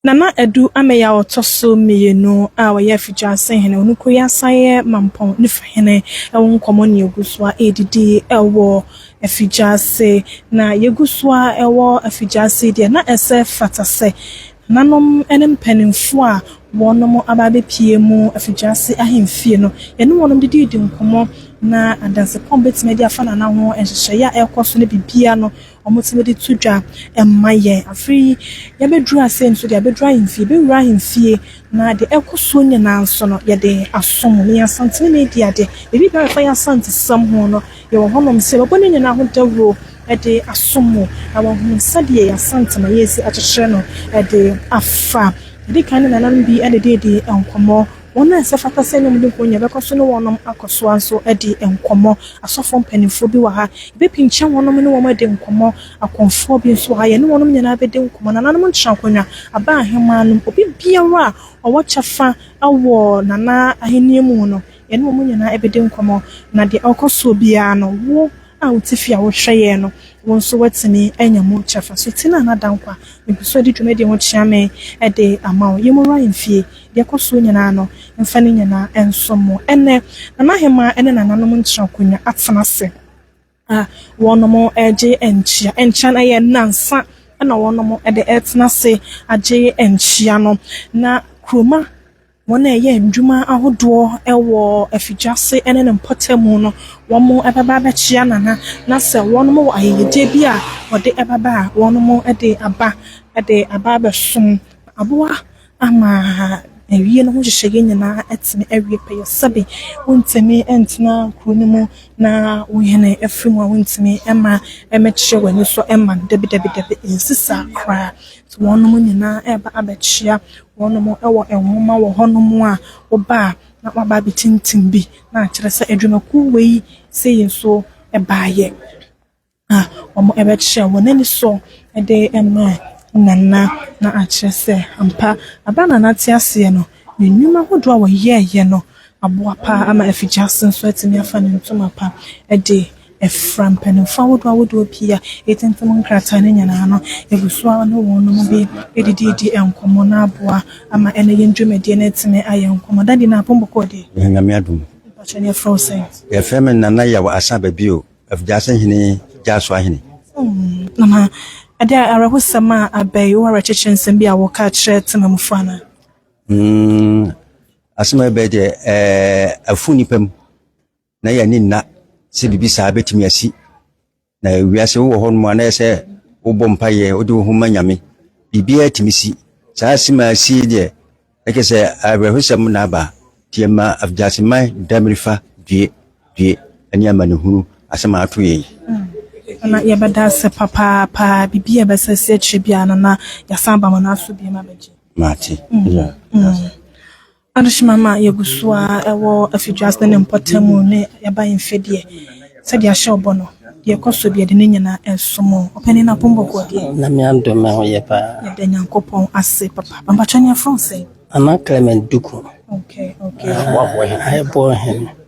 Nana Adu Ameyɛ a ɔtɔ so mmienu a ɔyɛ Afigya Ase Hene, ɔno kura yi asan yɛ Mampɔn Nifa Hene wɔ nkɔmmɔ ne yɛgu so ara ɛredidi wɔ Afigya Ase. Na yɛgu so ara wɔ Afigya Ase yi deɛ, na ɛsɛ fata sɛ Nananom ne mpanimfoɔ a wɔnom aba abɛpue mu Afigya Ase Ahemfie no, yɛne wɔnom dididi nkɔmmɔ na adansepɔn bɛtumi de afa Nana ho nhyehyɛeɛ a ɛrekɔ so ne biribiara no wɔtumi de to dwa ma yɛn. Afei yi, yɛabɛduru ase nso deɛ, yɛabɛduru ahemfie, yɛbɛwura ahemfie, na deɛ ɛrekɔ soɔ nyinaa nso no, yɛde asom. Ɛyɛ Asanteni Media de, biribiara a ɛfa yɛn Asantesom ho no, yɛwɔ hɔnom sɛ yɛbɛbɔ ne nyinaa ho dawuro de asom mo, na wɔahunu sɛdeɛ yɛn Asante ma yɛresi akyekyere no de afa. Yɛdi kan ne nananom bi de dii nkɔmmɔ. Wɔn a ɛsɛ fata sɛ nnwom no ho hia bɛkɔ so ne wɔnom akɔ so ara nso adi nkɔmmɔ. Asɔfoɔ mpanimfoɔ bi wɔ ha. Yɛbɛpinkyɛn wɔnom ne wɔn adi nkɔmmɔ. Akɔmfoɔ bi nso wɔ ha. Yɛne wɔnom nyinaa bɛdi nkɔmmɔ. Nananom ntena akonnwa, aba ahemaa nom. Obi biara a ɔwɔ kyɛfa wɔ Nana Ahennie mu no, yɛne wɔn nyinaa bɛdi nkɔmmɔ. Na deɛ ɔrekɔ soɔ biara no, wo, a wo tifi a wohwɛ yɛɛ no wo nso woatumi anya mu kyɛfa so ti no a na da nkwa megu so adi dwuma di ho kyea me de ama wo yɛmmɔ wura mfie deɛ ɛkɔ soɔ nyinaa no mfa ne nyinaa nsom mo ɛnnɛ nana hemaa ne nananom ntra akonwa atena ase a wɔnom ɛgye nkyea nkyea no ɛyɛ nansa ɛna wɔnom ɛde ɛtena ase agye nkyea no na kuroma Wɔn a ɛyɛ ndwuma ahodoɔ wɔ afidwa ase ne ne mpɔtamu no, wɔn bɛba abɛkyea Nana, na sɛ wɔn wɔ ayɛyɛdeɛ bi a wɔde bɛba a, wɔn de aba de aba abɛsom. Na aboa ama awie no ho nhyehyɛeɛ nyinaa atumi awie pɛyɛ. Sɛbe wontumi ntena kuro no mu na wo hene afiri mu a, wontumi mma mmɛkyerɛ w'ani so mma no, dabi dabi dabi, ɛnsi saa koraa. Nti wɔn nyinaa reba abɛkyea Wɔnom wɔ nwoma wɔ hɔ nom a wɔba a na wɔaba abɛtintim bi na akyerɛ sɛ adwumakuo wei sei nso baeɛ a wɔbɛkyerɛ wɔn ani so de ma Nana na akyerɛ sɛ ampa berɛ a Nana te aseɛ no ne nnwuma ahodoɔ a wɔyɛeɛ no aboa pa ara ama afigyaase nso atumi afa ne ntoma pa de Ɛfra mpanimfoɔ ahodoɔ ahodoɔ pii a ɛtintim nkrataa no nyinaa no gu so a ɔne wɔn bi redididi nkɔmmɔ no aboa ama ɛnnɛ yɛn dwumadie no atumi ayɛ nkɔmmɔ. Daddy no apɔn bɔkɔɔ deɛ? Yɛn Nyame adom. Mpakyɛ ne yɛfrɛ wo sɛn? Yɛfrɛ me Nana Yaw Asah Babio, Afigyaase Hene Gyaso Ahene. Oh Nana, ɛdeɛ a awerɛhosɛm a aba yi, wo awerɛkyekyerɛ nsɛm bi a wɔka kyerɛ temanmufoɔ anaa? Hmm, asɛm a ɛba yi deɛ, ɛɛ, afu nnipa mu. na yɛn ani nna sɛ biribi saa bɛtumi asi. Na wiase wowɔ hɔ nom a na ɛsɛ wobɔ mpaeɛ, wode wo ho ma Nyame. Biribiara tumi si. Saa asem a asie deɛ, na kyerɛ sɛ awerɛhosɛm na aba. Nti yɛma Afgyaseman Damirifa due, due ne amanehunu asɛm a ato yɛn yi. Mm. Na yɛbɛda ase papaapa. Biribi a ɛbɛsɛ sɛ akyire biara no na yɛasan aba mo no aso biom abɛgye. Mate. Mm. Yeah. Mm. Adehyema ma yegu so ara wɔ afiduase ne mpɔtam mu ne yɛaba mfe deɛ, sɛdeɛ ahyɛ ɔbɔ no, deɛ ɛkɔ so deɛ de ne nyina ɛnso mo. Ɔpanin Apombɔgoɔ deɛ. Nyame adom me ho yɛ paa. Yɛda Nyankopɔn ase papa. Pampatwɛn yɛfrɛ wo sɛn? Nana Clement Duku. Okay, okay. Ahɛboɔ hene.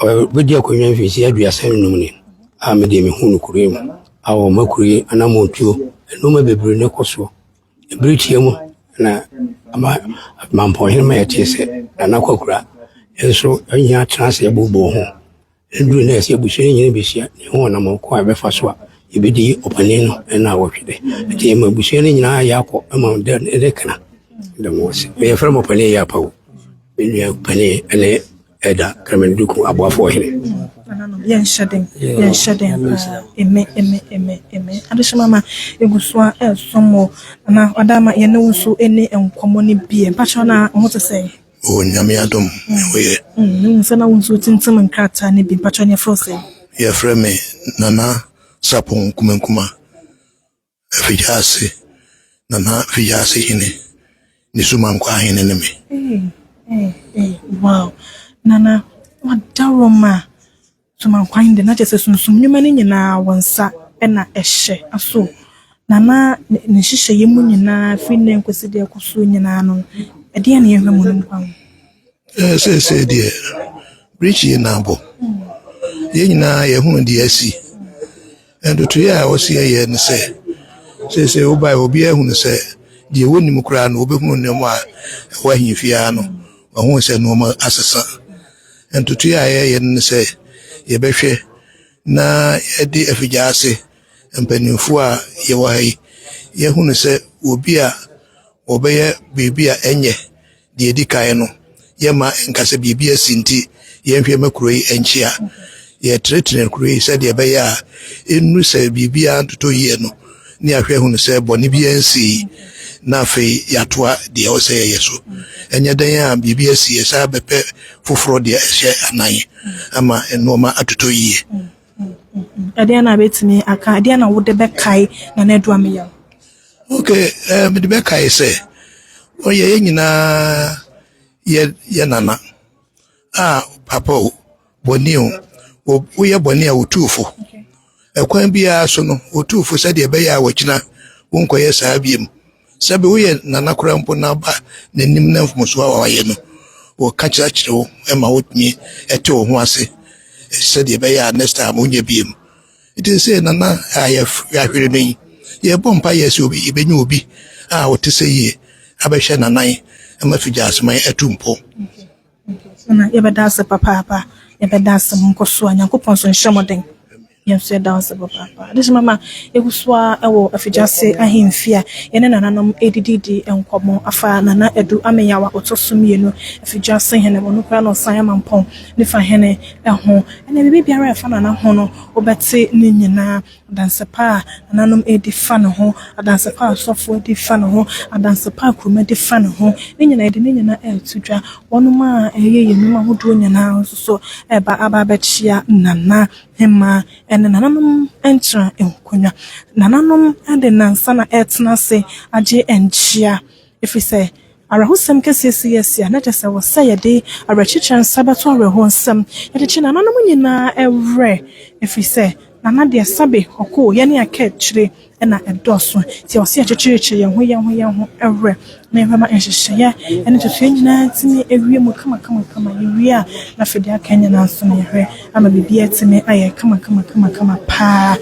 Ɔbɛdi akonnwa mfirihyia aduasa nnum ni a me deɛ mehu no kuro yi mu a wɔma kuro yi anammɔntuo. Nneɛma bebree na ɛkɔ soɔ. Ɛberɛ tia mu na ama mampɔnhene ma yɛtee sɛ Nana Kwakura nso anya atena ase abobɔ ho. Ɛduru nnɛ sɛ abusua no nyinaa bɛhyia na ɛho ɔnamɔn ko a ɛbɛfa so a yɛbɛdi ɔpanin no ɛna awɔtwe dɛ. Nti ɛma abusua no nyinaa yɛ akɔ ɛma dɛ ɛdɛ kana. Dɛm wɔ se. Yɛfrɛ mo panin yɛ apawu. Me nua panin ɛne Ɛda Kremlin-Duku aboafo ɔhene. Nananom, yɛnhyɛ den, yɛnhyɛ den paa. Eme, eme, eme, eme. Adehyema ma egu so a ɛresɔ mo anaa? Ɔda ama yɛne wo nso ɛni nkɔmmɔ no bi ɛ. Mpakyɛw na wo ho te sɛn? Mewɔ Nyame adom, me ho yɛ. Mm, me hu sɛ na wo nso wotintim nkrataa no bi. Mpakyɛw ne yɛfrɛ wo sɛn? Yɛfrɛ me Nana Sarpong Nkumankuma. Afigyase, Nana Afigyase Hene, ne Sumankwa Hene ne me. Hey, hey, hey, wow. Nana, wadaroma. Sumankwa Hene de, na kyerɛ sɛ sunsum nnwuma no nyinaa wɔn nsa na ɛhyɛ aso. Nana, ne nhyehyɛeɛ mu nyinaa, firi nnɛ nkɔsi deɛ ɛkɔ so nyinaa no, ɛdeɛ na yɛhwɛ mu no nkwa ho. Eh, seesei deɛ, birikyie na abɔ. Yɛn nyinaa yɛhunu deɛ asi. Ntotoeɛ a ɛwɔ seɛ yɛ ne sɛ, seesei wobae a obiara hunu sɛ deɛ wɔnnim koraa no wɔbɛhunu nnoɔma a ɛwɔ ahemfie ha no, wɔahunu sɛ nnoɔma asesa. Ntotoeɛ a yɛyɛ no ne sɛ yɛbɛhwɛ na yɛde afigya ase mpanimfoɔ a yɛwɔ ha yi, yɛahunu sɛ obi a wɔbɛyɛ biribi a ɛnyɛ Deɛ ɛdi kan no, yɛmma ɛnka sɛ biribi asi nti yɛnhwɛ ma kuro yi nkyea. Yɛtenetene kuro yi sɛdeɛ ɛbɛyɛ a ɛnnu sɛ biribiara ntotɔ yie no ne yɛahwɛ ahunu sɛ bɔne biara nsii na afei yɛatoa deɛ ɛwɔ sɛ yɛyɛ so. Ɛnyɛ dɛn a biribi asi yɛsan bɛpɛ foforɔ deɛ ɛhyɛ anan ama nnoɔma atotɔ yie. Ɛdeɛn na bɛtumi aka, ɛdeɛn na wode bɛkae Nana Adu Ameyaw? Ok, eh, mede bɛkae sɛ ɔyɛ yɛn nyinaa yɛ yɛ nana a papa o bɔne o woyɛ bɔne a wotuu fo ɛkwan biara so no wotuu fo sɛdeɛ ɛbɛyɛ a wɔkyena wonkɔyɛ saa biom Sɛ bi woyɛ nana koraa mpo na aba n'anim na mfomsoɔ a wayɛ no wɔka kyerɛ kyerɛ wo ma wotumi ɛte wo ho ase sɛdeɛ ɛbɛyɛ a next time wonyɛ biem nti sɛ nana a yɛahwere no yi yɛbɔ mpa yɛ sɛ obi yɛbɛnya obi a wɔte sɛ yie abɛhwɛ nanan ma figya aseman atu mpɔ Nna yɛbɛda wo ase papaapa. Yɛbɛda wo ase. Monkɔ so a. Nyankopɔn nso nhyɛ mo den. Yɛn nso yɛda wo ase papaapa. Adehyema mama yɛgu so ara wɔ Afigya ase ahemfie a yɛne nananom redididi nkɔmmɔ afa Nana Adu Ameyaw a ɔtɔ so mmienu, Afigya ase hene, ɔno koraa na ɔsan yɛ Mampɔn Nifa hene ho. Ɛnna biribi biara a ɛfa Nana ho no, wobɛte ne nyinaa. adanse pa a nananom redi fa ne ho, adanse pa a asɔfo redi fa ne ho, adanse pa a kuromma di fa ne ho, ne nyinaa yɛde ne nyinaa reto dwa. Wɔnom a ɛyɛ yɛn nnwuma ahodoɔ nyinaa nso so reba aba abɛkyea Nana Hema ne nananom ntra nkonnwa. Nananom de nnansa na ɛretena ase agye nkyea. Ɛfiri sɛ awerɛhosɛm kɛseɛ sii asi a na kyerɛ sɛ wɔ sɛ yɛde awerɛkyekyerɛ nsa bɛto awerɛhoɔ nsam. Yɛde kye nananom nyinaa werɛ, ɛfiri sɛ nana deɛ sabe, hɔkoo, yɛne akaakyire na ɛdɔɔso. Nti ɛwɔ sɛ yɛkyekyerekyere yɛn ho yɛn ho yɛn ho werɛ na yɛbɛma nhyehyɛeɛ ne ntotoeɛ nyinaa atumi awie mu kamakamakama. Yɛwie a, na afei deɛ aka nyinaa nso na yɛhwɛ ama biribiara atumi ayɛ kamakamakama pa ara.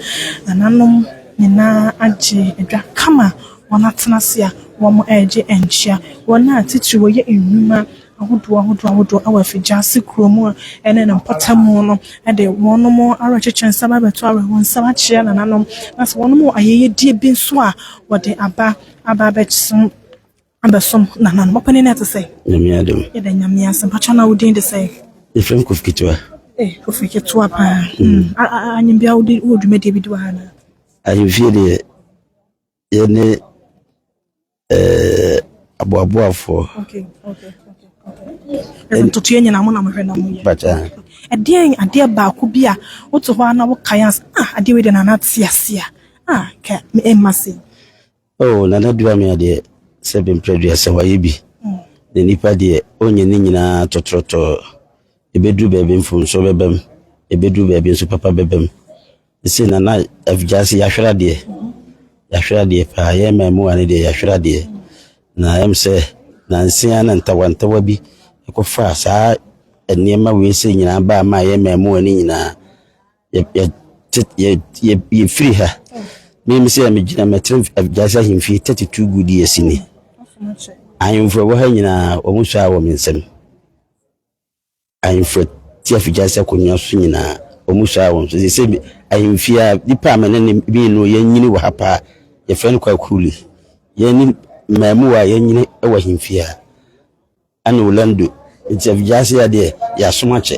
Nananom nyinaa agye dwa kama Wɔatena ase a wɔregye nkyea. Wɔn a titiriw wɔyɛ nnwuma ahodoɔ ahodoɔ ahodoɔ wɔ afigyaase kuro mu ne ne mpɔtam no de wɔn awerɛkyekye nsa ba abɛto awerɛhoɔ nsam akyea nananom, na sɛ wɔnom wɔ ayɛyɛdeɛ bi nso a, wɔde aba aba abɛsom abɛsom nananom. Ɔpanin no te sɛ? Nyame adom. Yɛda Nyame ase. Mpakyɛ na wo din de sɛ? Yɛfrɛ me Kofi Ketewa. Eh, Kofi Ketewa paa. Mm. Anyim bia wo de wo dwumadie bi di wɔ ha na? Ahemfie deɛ Yɛne eh, aboaboafoɔ. Okay, okay, okay, okay. Ntotoeɛ nyinaa mo na mohwɛ na moyɛ. Bata. Ɛdeɛn adeɛ baako bi a wote hɔ a na wokae a ah adeɛ wei de na nate ase a ah ka ɛmma se. Oh, nana dua me adeɛ sɛ bɛmpere dua sɛ wayɛ bi. Mm. Na nipa deɛ ɔnyɛ ne nyinaa tɔtrɔtɔ. Ɛbɛduru baabi mfomsoɔ bɛbam, ɛbɛduru baabi nso papa bɛbam. Ɛsei na na afiase yɛahwere adeɛ yɛahwere adeɛ paa yɛ mmaamuwa no deɛ yɛahwere adeɛ na ɛm sɛ nansia na ntawantawa bi ɛkɔfa saa nneɛma wei sɛ nyinaa baa ma yɛ mmaamuwa no nyinaa yɛfiri ha meme sɛ megyina mɛtena afiase ahemfie 32 good years ni ahemfo ɛwɔ ha nyinaa wɔn hyɛ wɔ me nsam Ahemfo te afigya sɛ akonnwa so nyinaa, wɔsuaa wɔn so. Seesei me, ahemfie a, nnipa a me ne ne bi no yɛanyini wɔ ha paa, yɛfrɛ no Kwaku Li. Yɛn ne mmaamua a yɛanyini wɔ ahemfie ha, ɛne Orlando. Nti afigya ase ha deɛ, yɛasom akyɛ.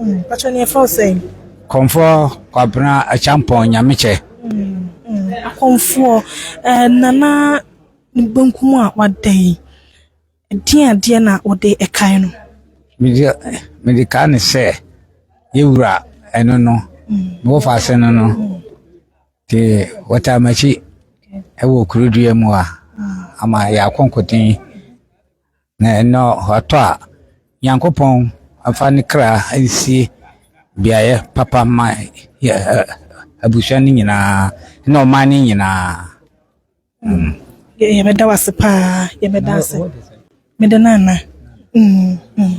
Mpakyɛ ne yɛfrɛ wo sɛn? Kɔmfoɔ Kwabena Akyampong Nyamekyɛ. Akɔmfoɔ, Nana ne benkum a wada yi, ɛdeɛn adeɛ na wode ɛkae no? Mede kae no sɛ yɛwura ɛno no, mewɔfa ase no no, nti wɔtaa m'akyi ɛwɔ kurodua mu a, ama yɛ akɔnkɔden. Na ɛnnɛ ɔtɔ a, Nyankopɔn mfa ne kra nsie beaeɛ papa ma yɛ abusua no nyinaa ne ɔman no nyinaa. Mm. Yɛbɛda wo ase paa, yɛbɛda ase. Mede no ana? Mm, mm.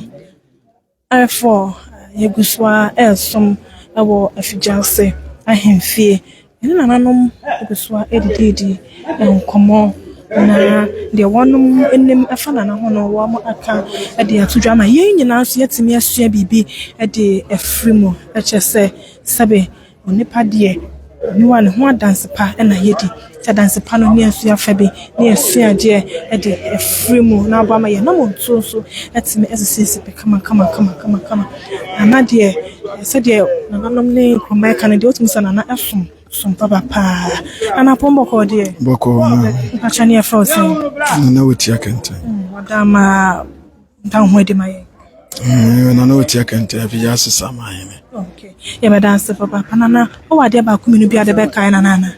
Ayefor yegu so ara resom wɔ afigye ase ahemfie. Yɛne nananom gu so ara redididi nkɔmmɔ, na deɛ wɔn anim fa nana ho no, wɔaka de ato dwa ama yɛn nyinaa nso yɛatumi asua biribi de afiri mu. Kyerɛ sɛ, sɛbe Onipa deɛ, oniwa ne ho adanse pa na yɛdi. Sɛ adanse pa no, ne yɛasua fa bi, ne yɛasua adeɛ de afiri mu na aboa ma yɛnam nsuo so atumi asisi sipe kama kama kama kama kama. Nana deɛ, sɛdeɛ nananom ne nkurɔmma ɛka no deɛ, wotumi sɛ nana som som papa paa. Nana apɔn bɔkɔɔ deɛ. Bɔkɔɔ. Mpakyɛ ne yɛfrɛ wo sɛn? Nana wotia kɛntɛn. Ɔdammaa. Ɔda ho adi ma yɛn. Mm, na na ɔtia kɛntɛ afei yɛ asesa ama ahene. Okay. Yɛbɛda ase papa. Pana na ɔwɔ adeɛ baako mmienu bi ade bɛkae na nana.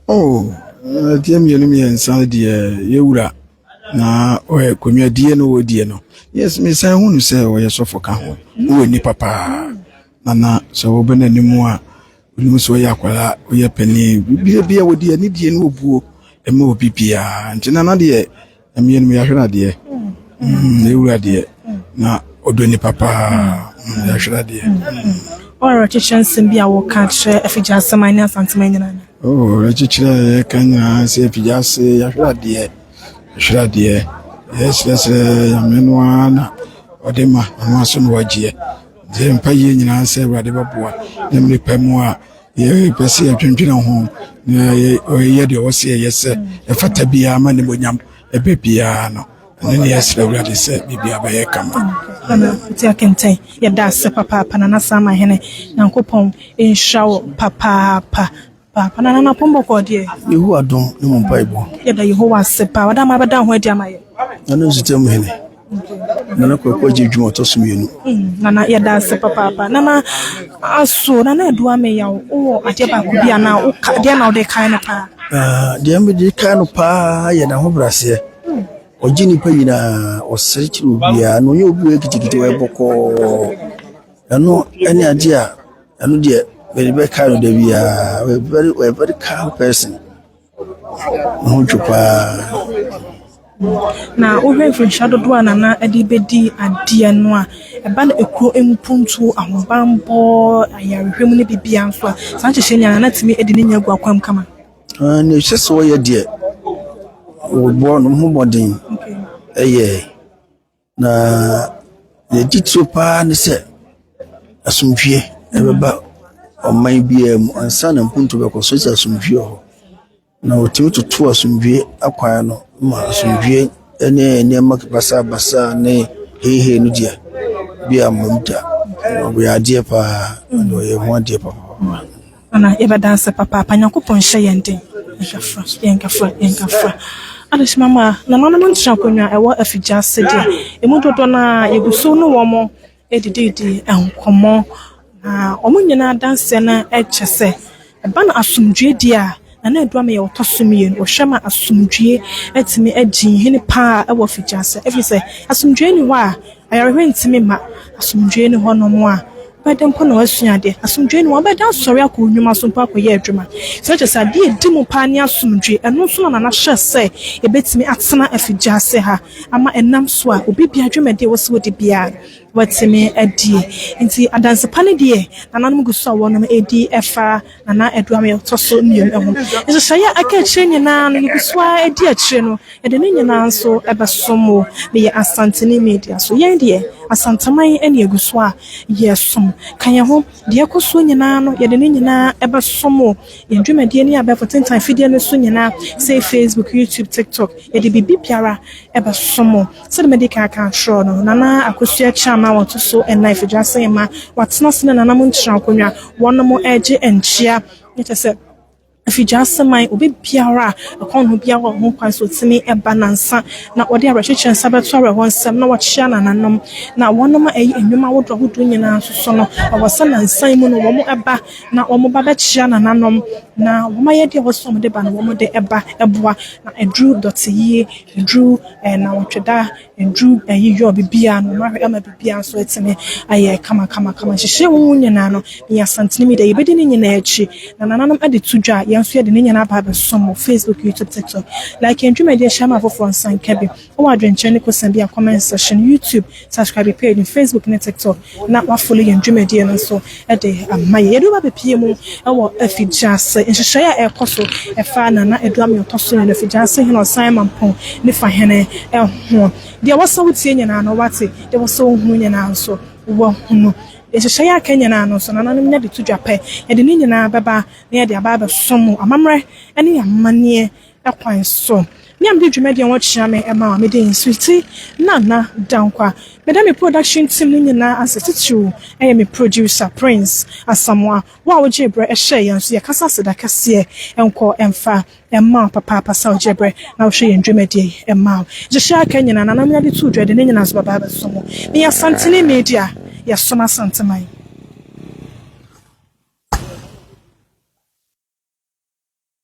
Oh, adeɛ mmienu mmiɛnsa deɛ yɛwura na ɔyɛ konwa die no wɔ die no. Yes, mesan hu no sɛ ɔyɛ sɔfo ka ho. Ɔwɔ ani papa. Nana sɛ wɔbɛ n'anim a onim sɛ ɔyɛ akwara, ɔyɛ panin. Biribiara bi a wɔde anidie ne obuo ɛma obi biara. Nti nana deɛ Mmienu yɛahwɛ no adeɛ ne mm, wura deɛ na ɔdɔ nipa paa mm, yɛahwɛ no adeɛ ɔwerɛkyekyerɛ mm. nsɛm bi a wɔka kyerɛ afigya asɛm a ne asantema nyina no ɔwerɛkyekyerɛ oh, a yɛka nyinaa sɛ afigya ase yɛahwɛ adeɛ yɛhwɛ adeɛ yɛserɛserɛ nyame no ara na ɔde ma ɔno aso na wagyeɛ nti mpa yie nyinaa sɛ awurade bɛboa ne mmepa mu a Yɛpɛ sɛ yɛdwendwene ho na yɛyɛ deɛ ɔwɔ sɛ yɛyɛ sɛ ɛfata biara ma nimonyam ɛbɛ biara no ɛno ne yɛsrɛ awurade sɛ biribia bɛyɛ kama nti akentɛn yɛda ase papaapa na nasa ama hene nyankopɔn nhyira wo papaapa paapa na nana pɔmbɔkɔ deɛ yehowa dom ne mu mpaebɔ yɛda yehowa ase paa ɔda ma bɛda ho adi ama yɛ ɛno nsutam hene Nana Kwaku agye dwuma ɔtɔ so mmienu. Mm, Nana, yɛda ase papaapa. Nana, aso Nana Adu Ameyaw, wowɔ adeɛ baako bi anaa woka deɛ na wode kae no paa? Ah, deɛ mede kae no paa yɛ n'ahobrɛaseɛ. Mm. Ɔgye nnipa nyinaa, ɔsere kyerɛ obiara, na ɔnyɛ obi wɔ kitikiti wɔ bɔkɔɔ. Ɛno ɛne adeɛ a ɛno deɛ mede bɛkae no da biara. Ɔyɛ very, ɔyɛ very calm person. Mo ho dwo paa. Na wohwɛ mfirihyia dodoɔ a Nana de bɛdi adeɛ no a, ɛba no akuo mpuntuo, ahobammɔ, ayarehwɛ mu ne biribiara nso a, saa nhyehyɛɛ nyinaa Nana tumi de ne nya gu akwan mu kama. Ah, nea ɛsɛ sɛ wɔyɛ deɛ, wɔbɔ ne ho mmɔden. Okay. Ɛyɛ. Na nea ɛdi tire pa ara ne sɛ, asomdwoeɛ bɛba ɔman biara mu ansa na mpontu bɛkɔ so. Sɛ asomdwoeɛ wɔ hɔ na wɔtumi toto asomdwoeɛ akwan no ma asomdwoeɛ ne nneɛma basabasa ne heihei no di a, ebia mmom da, ɛyɛ adeɛ pa ara, ɛyɛ ho adeɛ papaapa. Ana yɛbɛ danse papaapa Nyankopɔn nhyɛ yɛn den Yɛnkafra yɛnkafra yɛnkafra Adehyema mu a nananom ntra akonwa a ɛwɔ afigya ase deɛ ɛmu dodoɔ no ara yɛgu so ne wɔn redididi nkɔmmɔ na wɔn nyinaa adanseɛ no kyɛ sɛ ɛba no asomdwoeɛ die a Na na Adulam yɛ ɔtɔ so mmienu. Ɔhwɛ ma asomdwoeɛ tumi di hene pa ara wɔ afigyase, ɛfiri sɛ asomdwoeɛ nni hɔ a, ayarehwɛ ntumi mma. Asomdwoeɛ nni hɔnom a, wobɛdɛn mpo na woasua adeɛ? Asomdwoeɛ nni hɔ a, wobɛdɛn asɔre akɔ wo nnwuma so mpo akɔyɛ adwuma? So na kyerɛ sɛ adeɛ a ɛdi mu pa ara ne asomdwoeɛ? Ɛno nso na Nana hyɛɛ sɛ ɛbɛtumi atena afigyase ha ama ɛnam so a, obi biara dwumadi a ɛwɔ sɛ wɔdi biara no, wɔatumi adie. Enti adanse pa no deɛ, Nananom gu so a wɔnom ɛredi fa. anaa aduan a ɛtɔ so mmienu ho. Nhyehyɛe a aka akyire nyinaa no, yɛgu so ara di akyire no, yɛde ne nyinaa nso bɛsom mo. Meyɛ Asanteni Media so. Yɛn deɛ, Asanteman na yɛgu so a yɛsom. Ka yɛn ho. Deɛ ɛkɔ soɔ nyinaa no, yɛde ne nyinaa bɛsom mo. Yɛn dwumadie ne abɛɛfo tentan afidie no so nyinaa, sei Facebook, YouTube, TikTok, yɛde biribiara bɛsom mo. Sɛdeɛ madi kan aka atorɔ no, Nana Akosua Kyaan a ɔto so nnan firi Dwase mma, watena ase ne nananom nkyerɛ akonnwa, wɔnom regye nkyea, na kyerɛ sɛ firi Dwase man, obi biara a ɛkɔn ne ho biara wɔ ho kwan sɛ ɔtumi ba nansa na ɔde awerɛkyekyerɛ nsa bɛto awerɛhoɔ nsɛm na wakyea nananom. Na wɔnom a ɛyi nnwom ahodoɔ ahodoɔ nyinaa nso so no, ɛwɔ sɛ nansa yi mu no wɔn ba na wɔn ba bɛkyea nananom na wɔn ayɛdeɛ a ɛwɔ sɛ wɔde ba no wɔde ba boa na aduru dɔteyie Nnuru nnawɔtweda, nnuru ayi yɔ biribiara no, mahwɛ ama biribiara nso atumi ayɛ kamakamakama. Nhyehyɛɛ mu nyinaa no, meyɛ Asanteni mi dɛ. Yɛbɛdi ne nyinaa akyi. Na nananom de to dwa a, yɛn nso yɛde ne nyinaa aba abɛsom wɔ Facebook, YouTube, TikTok. Like yɛn dwumadi a ɛhyɛ ama afoforɔ nsa nka bi wɔ adwenkyerɛ ne kosan bi a, comment section, YouTube, Subscribe yɛ page no Facebook ne TikTok na woafolo yɛn dwumadie no nso de ama yɛn. Yɛde wo abɛpie mu wɔ afigyase nhyehyɛeɛ a ɛrekɔ so ɛfa Nana Adu Amin Ɔtɔ So Mmienu, Afigyase Hene Ɔsan Mampong ne Fa Hene ho. Deɛ ɛwɔ sɛ wotie nyinaa no woate, deɛ ɛwɔ sɛ wohunu nyinaa nso woahunu. Deɛ nhyehyɛeɛ a aka nyinaa no nso nananom nya de to dwa pɛ. Yɛde ne nyinaa bɛba na yɛde aba abɛsom mo amammerɛ ne amanneɛ kwan so. Me a mede dwumadi a wɔkyea me ma a mede din Sweety Nana Dankwa meda me production team no nyinaa ase titiriw yɛ me producer Prince Asamoah wo a wogyee berɛ hyɛɛ yɛn so yɛka sɛ aseda kɛseɛ nkɔ mfa mma wo papaapa sɛ wogyee berɛ na wohwɛ yɛn dwumadie yi ma wo nhyehyɛɛ aka nyinaa Nana Mena de too dwa de ne nyinaa so bɛba abɛso mo meyɛ Asanteni Media yɛsom Asanteman.